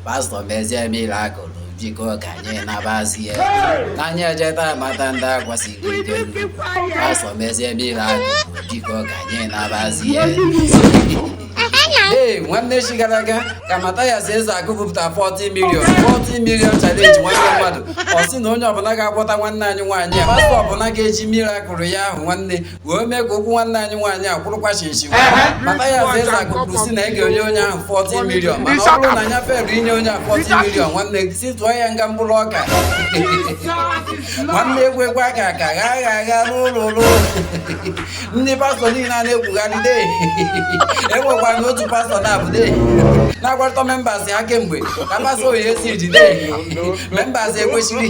pastọ mezie mirakụ jikọ ka anyị nabazie ka anyị ejeta mata ndị akwasịrị ike pastọ mezie mirakụ jikọ ka anyị nabazie ee nwanne echi gara aga ka Mathias Ezeaku bupụta 40 million 40 million challenge nwanne mmadụ ọ sị na onye ọbụla ga-agwọta nwanne anyị nwaanyị a pastọ ọbụla ga-eji mirakụl ya ahụ nwanne wee mee ka ụkwụ nwanne anyị nwaanyị a kwụrụkwa chịm chịm Mathias Ezeaku kwuru sị na ị ga-enye onye ahụ 40 milion mana ọ bụrụ na ya feelụ inye onye ahụ 40 milion nwanne gị sị tụọ ya nga mkpụrụ ọka nwanne egwu egwu aka aka gha agha agha n'ụlọ ụlọ ndị pastọ niile a na-ekwugharị de enwekwa na otu pastọ na-abụ de na-agwarịta membas ha kemgbe ka pastọ oyi esi jide membas ekwesịrị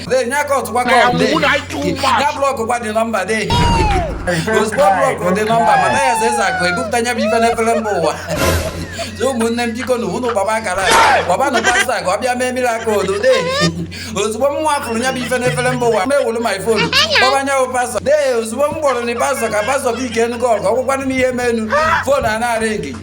Dee, nye aka ọtụkwa Na ya kọọlụ, dee. mụ na ịtụ ụmụ a. Ya blọkụ gwa dị nọmba, dee. Ozugbo blọkụ dị nọmba, Mathias Ezeaku, ebupụta ya bụ ife n'efere mba ụwa. So, ụmụnne m biko na unu kpọba akara a. kpọbanụ pastọ ka ọ bịa mee mirakụl o dee ozugbo m nwa fụrụ ya bụ ife n'efere mba ụwa m wolu my fon kpọba nya bụ pastọ dee ozugbo m kpọrọ nwa pastọ ka pastọ bụ ike enu gọl ka ọ gwakwanụ m ihe menu fon a na-aringi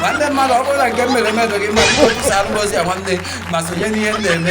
nwanne mmadụ ọ bụrụ na nke m mere eme dị gị mma biko kwụsara m ozi a nwanne ma sonye n'ihe m na-eme